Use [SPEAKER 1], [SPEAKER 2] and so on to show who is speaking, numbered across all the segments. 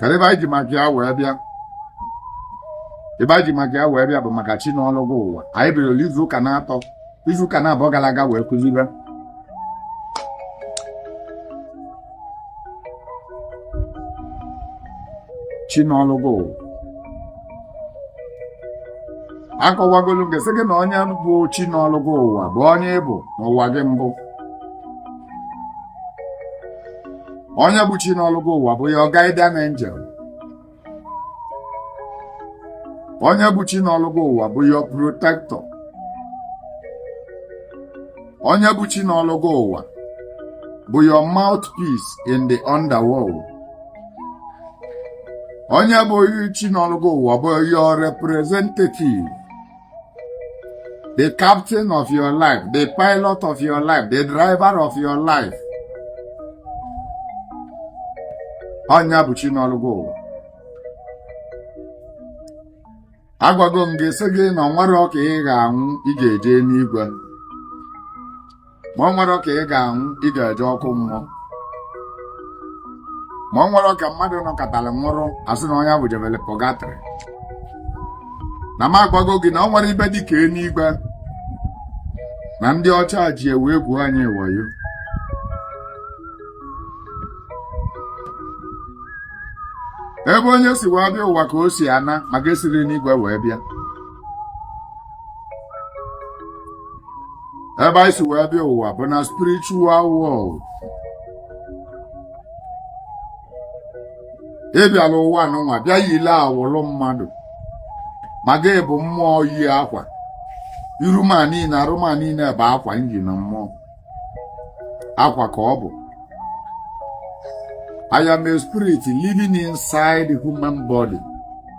[SPEAKER 1] kedu ife anyị ji maka ya wee bịa ife anyị ji maka ya wee bịa bụ maka chi nọlụ gị ụwa anyị bidoro izu ụka na-atọ izu ụka naabọ gara aga wee kụzibe chi nọlụ gị ụwa akọwagolụ m gị sị gị na onye bụ chi nọlụ gị ụwa bụ onye ị bụ n'ụwa gị mbụ onye bụ chi nọlụ gị ụwa bụ your guardian angel onye bụ chi nọlụ gị ụwa bụ your protector onye bụ chi nọlụ gị ụwa bụ your mouthpiece in the underworld onye bụ chi nọlụ gị ụwa bụ your representative the captain of your life, the pilot of your life, the driver of your life. Onye bụ chi nọlụ gị ụwa. Agwago m gị sị gị na ọ nwerọ ka ị ga-anwụ ị ga-eje enuigwe. ma ọ nwerọ ka ị ga-anwụ ị ga-eje ọkụ mmụọ ma ọ nwerọ ka mmadụ nọkatalị nwụrụ a sị na onye bụ jebele purgatory na m agwago gị na ọ nwerọ ife dị ka enuigwe na ndị ọcha ji wee egwu anyị wayo ebe onye si wee bịa ụwa ka o si ana maka e sirọ n'igwe wee bịa ebe anyị si wee bịa ụwa bụ na spiritual world ị bịara ụwa nụnwa bịa yili awụlụ mmadụ ma gị bụ mmụọ yi akwa iru m a niile arụ m a niile bụ akwa m ji na mmụọ akwa ka ọ bụ I am a spirit living inside human body.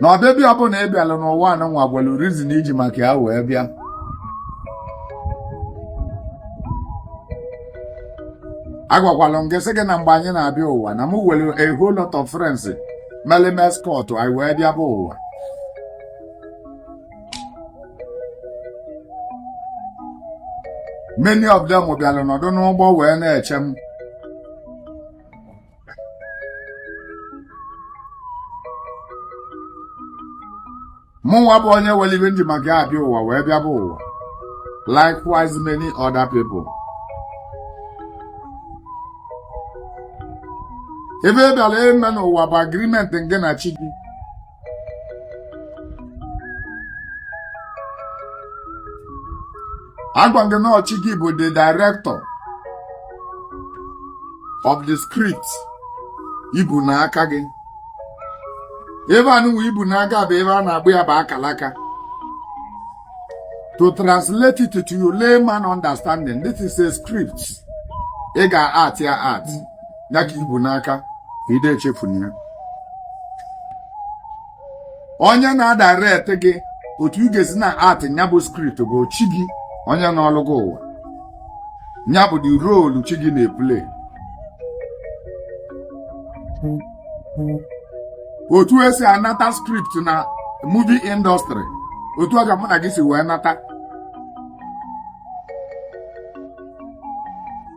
[SPEAKER 1] na ọbịbịa ọbụla ị bịara n'ụwa anụnwa nwere reason i ji maka ya wee bịa agwakwala m gị sị gị na mgbe anyị na-abịa ụwa na m nwere a whole lot of friends mere m escort anyị wee bịa bụ ụwa many of them bịara nọdụ n'ụgbọ wee na-eche m mụnwa bụ onye nwere ife m ji maka ya abịa ụwa wee bịa bụ ụwa likewise many other people ife ị bịara ime n'ụwa bụ agreement gị na chi gị agwa gị na ọ chi gị bụ the director of the script i bu n'aka gị ibe anụwa i bu n'aka bụ ibe a na-akpọ ya bụ akalaka to translate it to your layman understanding this is a script ị ga-act ya act ya ka i bu n'aka ide echefu na ya onye na-adirect gị otu ị ga-esi na-act nya bụ script bụ chi gị onye nọlụ gị ụwa nya bụ the role chi gị na-eplay otu e si anata script na movie industry otu a ka mụ na gị si wee nata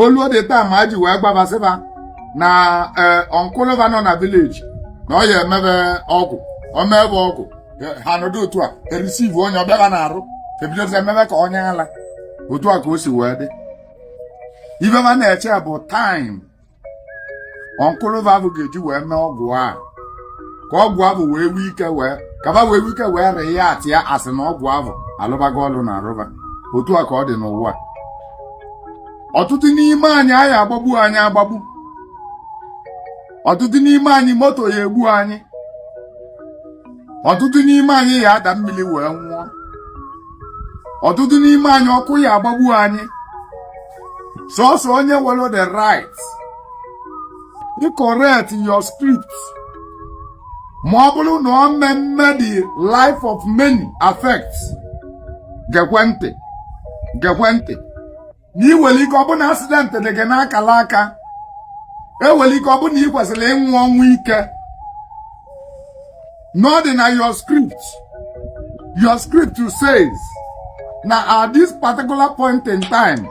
[SPEAKER 1] o luo dị taa ma ji wee gbabasịba na ee uncle va nọ na village na ọ ya emebe ọgwụ o mebe ọgwụ ha nọdụ otu a ereceive onye ọ bịara n'arụ ebidozi emebe ka onye ala otu a ka o si wee dị ibe va na-eche bụ time uncle va ahụ ga-eji wee mee ọgwụ a ka ọgwụ ahụ wee nwee ike wee kaba wee nwee ike wee react ya a sị na ọgwụ ahụ alụbago ọlụ na arụ va otu a ka ọ dị n'ụwa ọtụtụ n'ime anyị a ya agbagbu anyị agbagbu ọtụtụ n'ime anyị moto ya egbu anyị ọtụtụ n'ime anyị ya ada mmili wee nwụọ ọtụtụ n'ime anyị ọkụ ya agbagbu anyị sọsọ onye nwelu the right ịcorrect your script ma ọ bụlụ na ọ mmemme the life of many affects gekwe ntị gekwe ntị na i nwelu ike ọ bụ na accident dị gị n'akala aka e nwelu ike ọ bụ na ị kwesịlị ịnwụ ọnwụ ike na ọ dị na your script your script says na at this particular point in time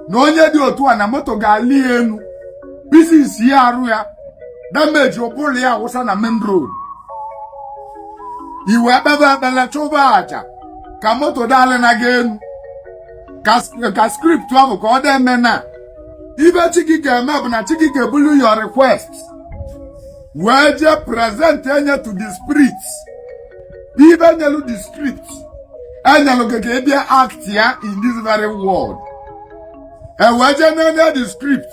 [SPEAKER 1] na onye dị otu a na moto ga-alị ya enu pieces ya arụ ya damage ụbụrụ ya awụsa na main road i wee kpebe ekpele chụba aja ka moto daalị na gị enu ka sk- ka script ahụ ka ọ dị eme na ibe chi gị ga-eme bụ na chi gị ga-ebulu your request wee jee present enye to the spirit bụ ibe nyelu the script e nyelu gị ka ị bịa act ya in this very world e wee jee n'enye the script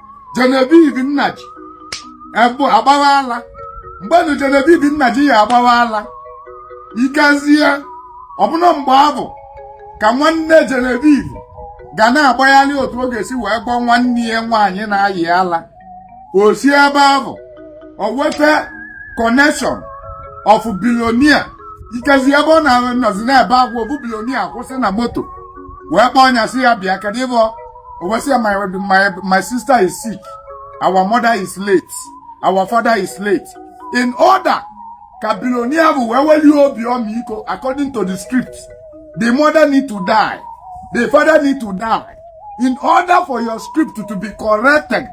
[SPEAKER 1] Genevieve Nnaji ebu agbawa ala mgbe nu Genevieve Nnaji ya agbawa ala ikezie ọ bụ na mgbe ahụ ka nwanne Genevieve ga na-agbagharị otu ọ ga-esi wee gwọọ nwanne ya nwaanyị na-ayị ala o si ebe ahụ o weta connection of billionaire ikezi ebe ọ na-anọzi n'ebe ahụ ofu billionaire kwụsị na moto wee kpọọ nya sị ya bịa kedu ihe ọ o wee sị ya my my my sister is sick our mother is late our father is late in order ka bilonia bụ wee welie obi ọmịiko according to the script the mother need to die the father need to die in order for your script to be corrected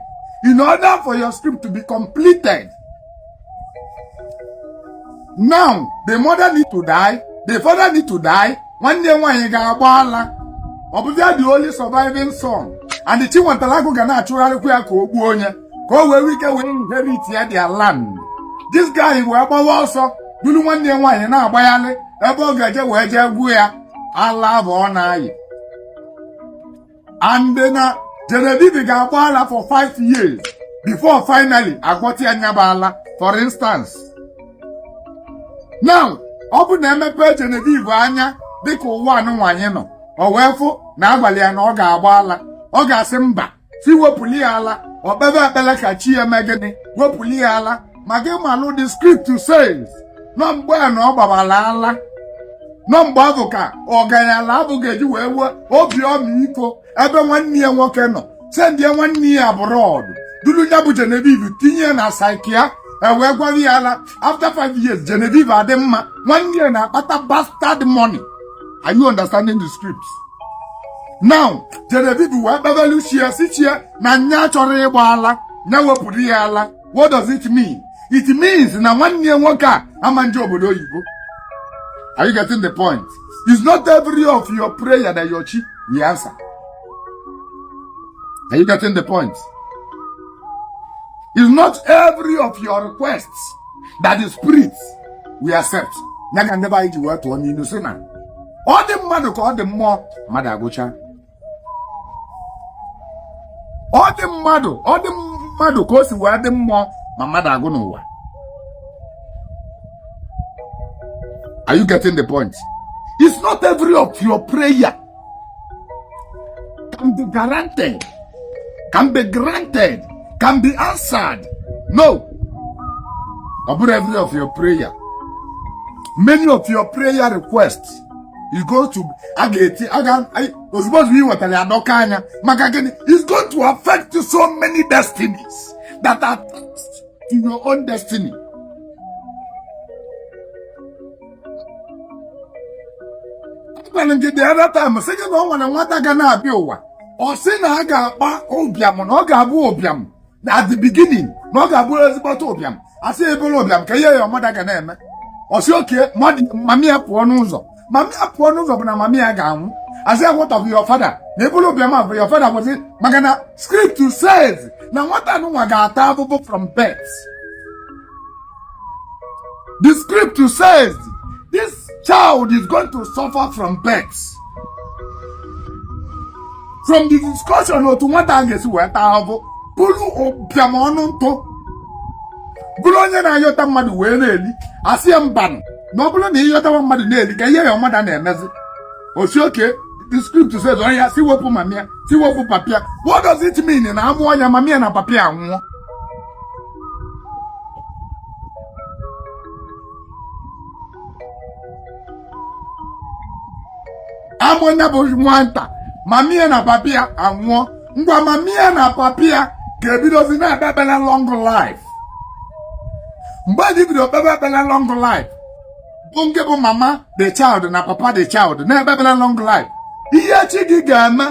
[SPEAKER 1] in order for your script to be completed now the mother need to die the father need to die nwanne ya nwaanyị ga-agba ala ọ bụzia the only surviving son and Chiwetalu Agu ga na-achụgharịkwa ya ka o gbuo nya ka o wee nwee ike wee inherit ya their land this guy wee gbawa ọsọ duru nwanne ya nwaanyị na-agbagharị ebe ọ ga-eje wee jee gwọọ ya ala abụ ọ na-ayị and na Genevieve ga-agba ala for five years before finally a gwọta ya nya bụ ala for instance now ọ bụ na e mepee Genevieve anya dịka ụwa a nụnwa anyị nọ o wee fụ na a gwalị ya na ọ ga-agba ala ọ ga-asị mba sị wepụli ya ala o kpebe ekpele ka chi ya mee gịnị wepụli ya ala ma gị malụ the script says na ọ mgbe a na ọ gbabala ala na ọ mgbe abụ ka ọganyala abụ ga-eji wee nwee obi ọmịiko ebe nwanne ya nwoke nọ sendie nwanne ya abroad duru ya bụ Genevieve tinye ya na psychia e wee gwọrọ ya ala after five years Genevieve adị mma nwanne ya na-akpata bastard money are you understanding the script now Genevieve wee kpebelu chi ya sị chi ya na nya achọrọ ịgba ala nya wepụrụ ya ala what does it mean it means na nwanne ya nwoke a ama eje obodo oyibo are you getting the point it's not every of your prayer that your chi will answer are you getting the point it's not every of your requests that the spirit will accept ya ka ndị be anyị ji wee tụọ n'ilu sị na ọ dị mmadụ ka ọ dị mmụọ mmadụ agwụcha ọ dị mmadụ ọ dị mmadụ ka o si wee dị mmụọ ma mmadụ agwụ n'ụwa are you getting the point it's not every of your prayer can be guaranteed can be granted can be answered no ọ bụrọ every of your prayer many of your prayer requests is going to a ga-eti ozugbo ozugbo e wetara ya dọkaa nya maka gịnị it's going to affect so many destinies that are attached to your own destiny. agwara m gị the other time sị gị na ọ nwere nwata ga na-abịa ụwa ọ sị na a ga-akpa ụbịam na ọ ga-abụ ụbịam na at the beginning na ọ ga-abụ ezigbote ụbịam a sị ị bụrụ ụbịam ka ihe your mother ga na-eme ọ sị okay mami ya pụọ n'ụzọ mami ya pụọ n'ụzọ bụ na mami ya ga-anwụ a sị what of your father na ị bụrụ ụbịam ahụ your father bụzi maka na script says na nwata nwa ga-ata afụfụ from birth The script says this child is going to suffer from birth. From the discussion otu nwata a ga-esi wee taa ahụhụ bụrụ ụbịam ọnụ ntụ bụrụ onye na-ayọta mmadụ wee na-eli a sị ya mbanụ na ọ bụrụ na ị yọtawa mmadụ na-eli ka ihe your mother na-emezi ọ sị okay the script says oya sị wepụ mami ya sị wepụ papi ya what does it mean na a mụọ ya mami ya na papi ya anwụọ a mụọ nke bụ nwata mami ya na papi ya anwụọ ngwa mami ya na papi ya ga-ebidozi na-ekpe ekpere long life mgbe e ji bido kpebe ekpere long life bụ nke bụ mama the child na papa the child na-ekpe ekpere long life ihe chi gị ga-eme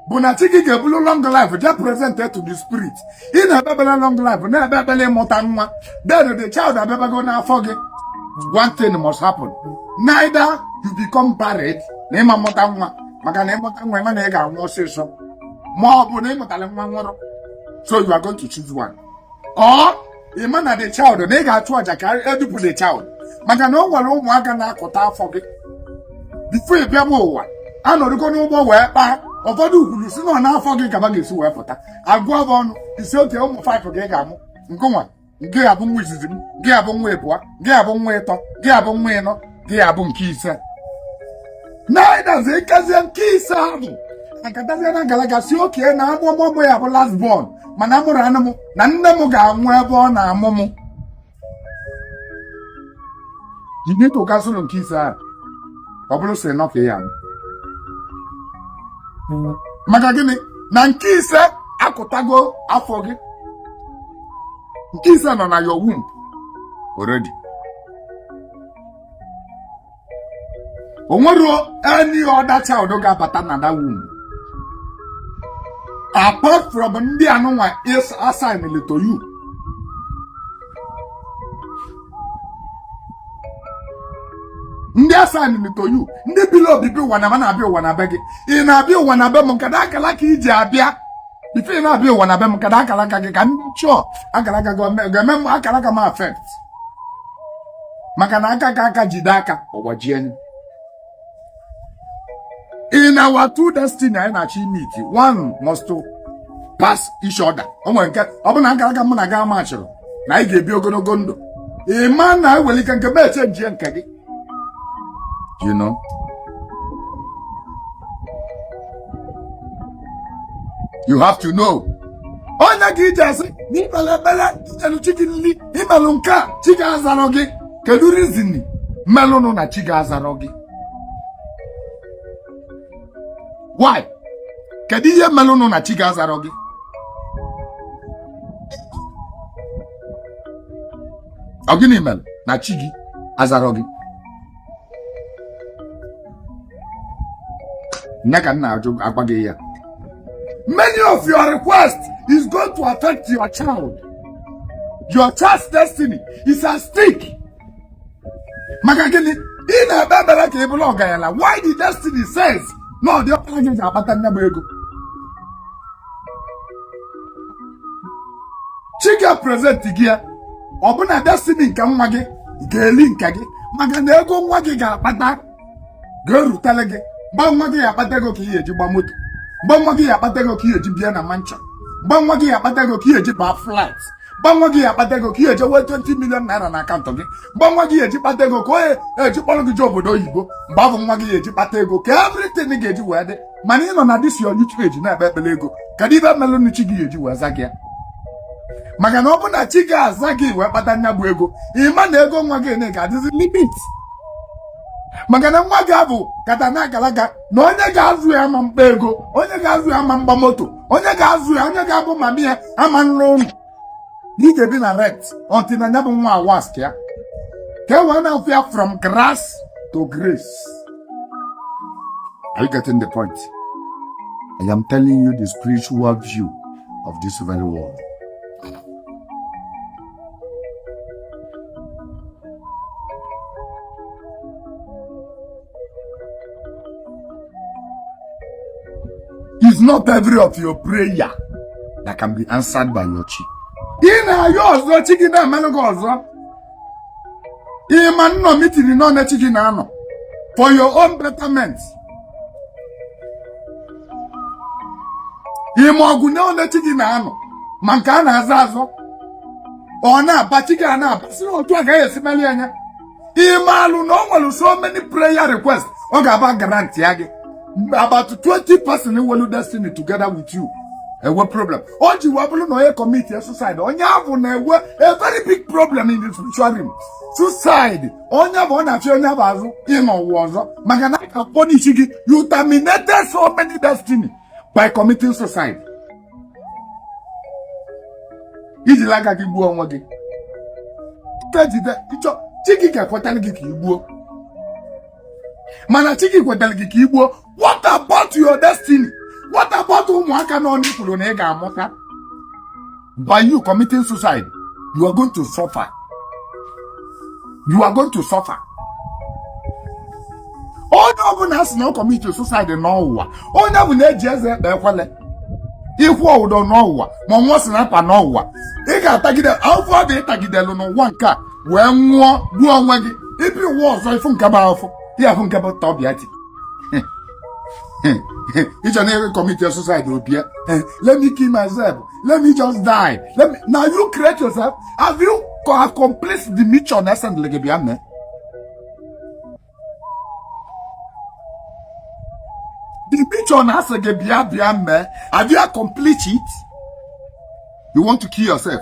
[SPEAKER 1] bụ na chi gị ga-ebulu long life je present to the spirit ị na-ekpe ekpele long life na-ekpe ekpele ịmụta nwa then the child abịabago n'afọ gị one thing must happen neither you become barren na ị ma-amụta nwa maka na ị mụta nwa ị ma na ị ga-anwụ ọsịsọ ma ọ bụ na ị mụtara nwa nwụrụ so you are going to choose one or ị ma na the child na ị ga-achụ aja ka e dupụ the child maka na o nwere ụmụaka na-akụta afọ gị before ị bịaba ụwa anọdụgo na mmụọ wee kpaa ụfọdụ kwuru sị na n'afọ gị ka fa ga-esi wee pụta a gụọ fa ọnụ ị sị okay ụmụ five ka ị ga-amụ ngwa nke a bụ nwa izizi m nke a bụ nwa ịbụa nke a bụ nwa ịtọ nke a bụ nwa ịnọ nke a bụ nke ise na-edazi ikezie nke ise ahụ akatazie n'akala aka sị okay na a mụọ m mụ ya-abụ last born mana mụrụ anụ m na nne m ga-anwụ ebe ọ na-amụ m you need to cancel nke ise ahụ ọ bụrụ si nọ ka ya maka gịnị na nke ise akụtago afọ gị nke ise nọ na your womb already o nwerọ any other child ga-abata na that womb apart from ndị anụnwa is assigned to you ndị assigned to you ndị bili obibi ụwa na na-abịa ụwa na be gị ị na-abịa ụwa na be m kedụ akala aka i ji abịa if ị na-abịa ụwa na be m kedụ akala aka gị ka m dị sure akara aka ga-eme m akara aka m affect maka na aka ka aka jide aka ọ gbajie ya in our two destiny anyị na-achọ imeet one must to pass each other o nwere nke ọ bụ na akalaka mụ na gị amachịrị na anyị ga-ebi ogologo ndụ ị ma na e nwelu ike nke m echenjie nke gị you know. You have to know. Ọ nya ka i ji asị na i kpere ekpere elu chi gị nri i melụ nke a chi gị azarọ gị kedu reason melụnụ na chi gị azarọ gị why kedu ihe melụnụ na chi gị azarọ gị ọ gịnị mere na chi gị azarọ gị nya ka m na-achọ ịgwa gị ya many of your request is going to affect your child your child's destiny is at stake maka gịnị ị na-ekpe ekpere ka ị bụrụ ọgaranya while the destiny says na ọ diọkpara gị ji akpata nya bụ ego chi gị present gị ya ọ bụ na destiny nke nwa gị ga-eli nke gị maka na ego nwa gị ga-akpata ga-erutele gị mgbe nwa gị ya akpata ego ka ị ga-eji gba moto mgbe nwa gị ya akpata ego ka ị ga-eji bịa na mansion mgbe nwa gị ya akpata ego ka ị ga-eji baa flight mgbe nwa gị ya akpata ego ka ị ya eji nwee 20 million naira na account gị mgbe nwa gị ya eji kpata ego ka ọ ya eji kpọrọ gị je obodo oyibo mgbe nwa gị ya eji kpata ego ka everything ga-eji wee dị mana ị nọ na this your youthful age na-ekpe ekpele ego kedu ife melụnụ chi gị ya eji wee za gị ya maka na ọ bụ na chi gị aza gị wee kpata nya bụ ego ị ma na ego nwa gị na ga-adịzi limit maka na nwa gị abụ kata na agalaga na onye ga-azụ ya ma mkpa ego onye ga-azụ ya ma mgba moto onye ga-azụ ya onye ga-abụ mama ya ama nlụ ụnọ na ị ga-ebi na rent until na ya bụ nwa awask ya ka e wee na-afụ ya from grass to grace are you getting the point i am telling you the spiritual view of this very world It's not every of your prayer that can be answered by your chi. Ị na-ayọ ọzọ chi gị na-emelụ gị ọzọ. Ị ma nnọ meeting na ole chi gị na-anọ for your own betterment. Ị ma ọgụ na ole chi gị na-anụ ma nke a na-azọ azọ. Ọ na-aba chi gị a na-aba si na otu agaghị esi meli anya. ịmalụ na ọ nwere so many prayer request ọ ga-aba guarantee ya gị about 20 person nwelu destiny together with you enwe problem o ji wee bụrụ na onye commit suicide onye avụ na-enwe a very big problem in the spiritual realm suicide onye bụ ọ na-achọ onye bụ azụ ịnọ ụwa ọzọ maka na a ka-apunish gị you terminated so many destiny by committing suicide i jila aka gị gbuo onwe gị jide i che chi gị ga-ekwetara gị ka ị gbuo mana chi gị kwetara gị ka ị gbuo what about your destiny what about ụmụaka anọ i kwuru na ị ga-amụta by you committing suicide you are going to suffer you are going to suffer onye ọbụla a sị na ọ commit suicide n'ụwa onye ọbụla eji eze ekpe ekwele ịkwụ ụdọ n'ụwa ma ịṅụ sniper n'ụwa ị ga-atagide avụvụ ị tagidelu n'ụwa nke a wee nwụọ gbuo onwe gị ị bịa ụwa ọzọ ị fụ nke bụ afọ ya afụ nke bụ tọbịa ti i che na ị ga-acommit suicide o bie let me kill myself let me just die let me na you create yourself have you co- accomplished the mission e sendili gị bịa mee the mission na a sị gị bịa bịa mee have you complete it you want to kill yourself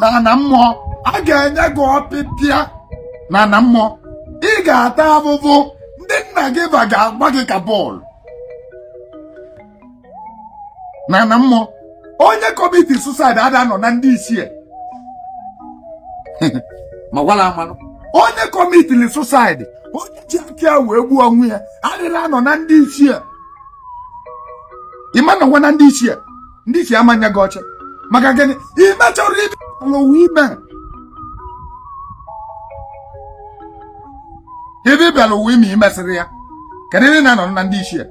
[SPEAKER 1] na ana mmụọ a ga-enye gị ọpịpịa na ana mmụọ ị ga-ata avụvụ ndị nna gị va ga-agba gị ka bọọlụ na ana mmụọ onye commit suicide ada anọ na ndị ichie ma gwala amanụ onye commitiri suicide onye ji aka ya wee gbuo onwe ya adịrọ anọ na ndị ichie ị ma-anọwa na ndị ichie ndị ichie ama nye gị oche maka gịnị i mecharọ ive ị bịalụ ụwa ime ive ị bịara ụwa ime i mesirọ ya kedu ebe ị na-anọ na ndị ichie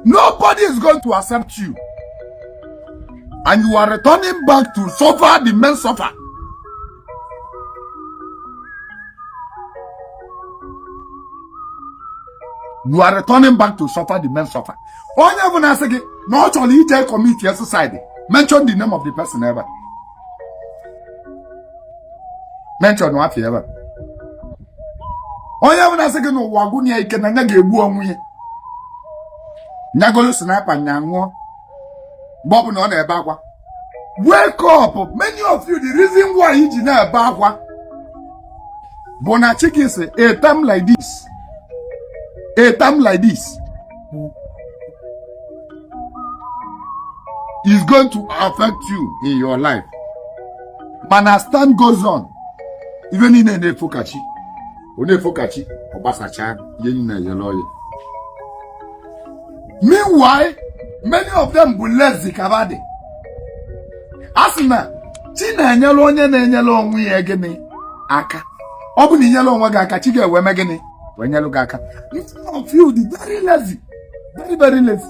[SPEAKER 1] nobody is going to accept you and you are returning back to suffer the main suffer you are returning back to suffer the main suffer onye ọbụna sị gị na ọ chọrọ ije commit suicide mention the name of the person ebe a mention afa ya ebe a onye ọbụna sị gị na ụwa agwụna ya ike na nya ga-egbu onwe ya nya golu sniper nya ṅụọ mgbe ọ bụla ọ na-ebe akwa wake up many of you the reason why i ji na-ebe akwa bụ na chike si a time like this a time like this is going to affect you in your life mana stand goes on ife niile na-efokachi onye fokachi ọ gbasacha ihe nna ya n'ọya meanwhile many of them bụ lazy kabadị a sị na chi na-enyere onye na-enyere onwe ya gịnị aka ọ bụ na i nyere onwe gị aka chi gị ewee mee gịnị wee nyere gị aka some of you dị very lazy very very lazy